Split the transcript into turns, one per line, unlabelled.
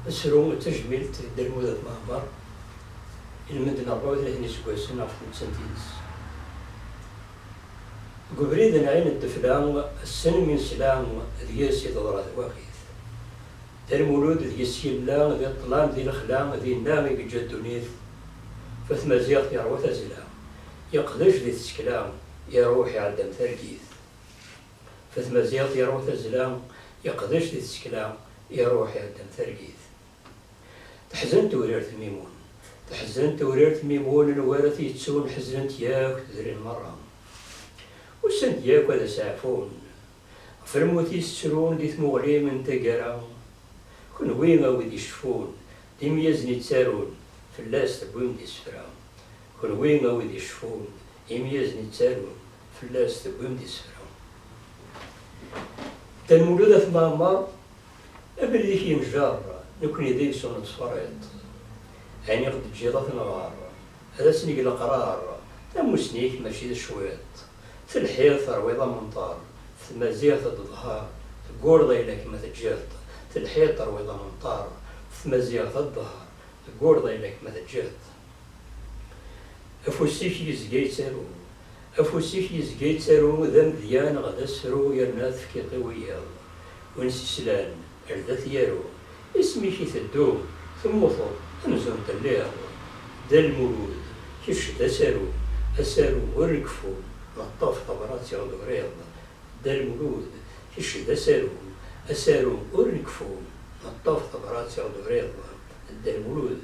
asru d tajmilt d Dda Lmud At Mɛemmer i lmend n ṛebɛa u tlatin iseggasen ɣef tmettant-ines. Deg ubrid n Ɛin Ddefla, ass-n mi nesla deg-s i teḍra twakit. D lmulud deg-s yella, di ṭṭlam, di lexla, dinna i yeǧǧa ddunit. Ɣef tmaziɣt yeṛwa tazzla, yeqdec di tsekla, iṛuḥ iɛedda-m targit. Ɣef tmaziɣt yeṛwa tazzla, yeqdec di tsekla, iṛuḥ iɛedda-m targit. Teḥzen tewrirt Mimun. Teḥzen tewrirt Mimun n wer t-yettun, ḥeznen-t yakk tudrin meṛṛa. Usan-d yakk ad as-ɛfun, Ɣef lmut-is ttrun di tmuɣli n taggara, Kunwi a wid iceffun, d imyazen i ttarun, Fell-as tewwim-d isefra. Kunwi a wid iceffun, d imyazen i ttarun, Fell-as tewwim-d isefra. Dda Lmulud At Mɛemmer, Abrid-ik yenjer, Nekni deg-s ur nettferriṭ, Ayen i ɣ-d-teǧǧiḍ a t-nɣer, Ad asen-neg leqrar, Tamussni-k mačči d cwiṭ. Telhiḍ terwiḍ amenṭar d tmaziɣt d ḍher Teggureḍ ayla-k ma teǧǧiḍ-t Telhiḍ terwiḍ amenṭar d tmaziɣt d ḍher Teggureḍ ayla-k ma teǧǧiḍ-t Afus-ik yezga yettaru Afus-ik yezga yettaru d amedya neɣ d asefru yerna tefkiḍ-t i wiyaḍ win s-islan Irda t-yaru, Isem-ik iteddu, temmuteḍ, amzun telliḍ. Dda Lmulud, Kečč d asaru, asaru ur nkeffu, ma ṭṭef tabrat i ɣ-d-uriḍ. Dda Lmulud, Kečč d asaru, asaru ur nkeffu, ma ṭṭef tabrat i ɣ-d-uriḍ. Dda Lmulud,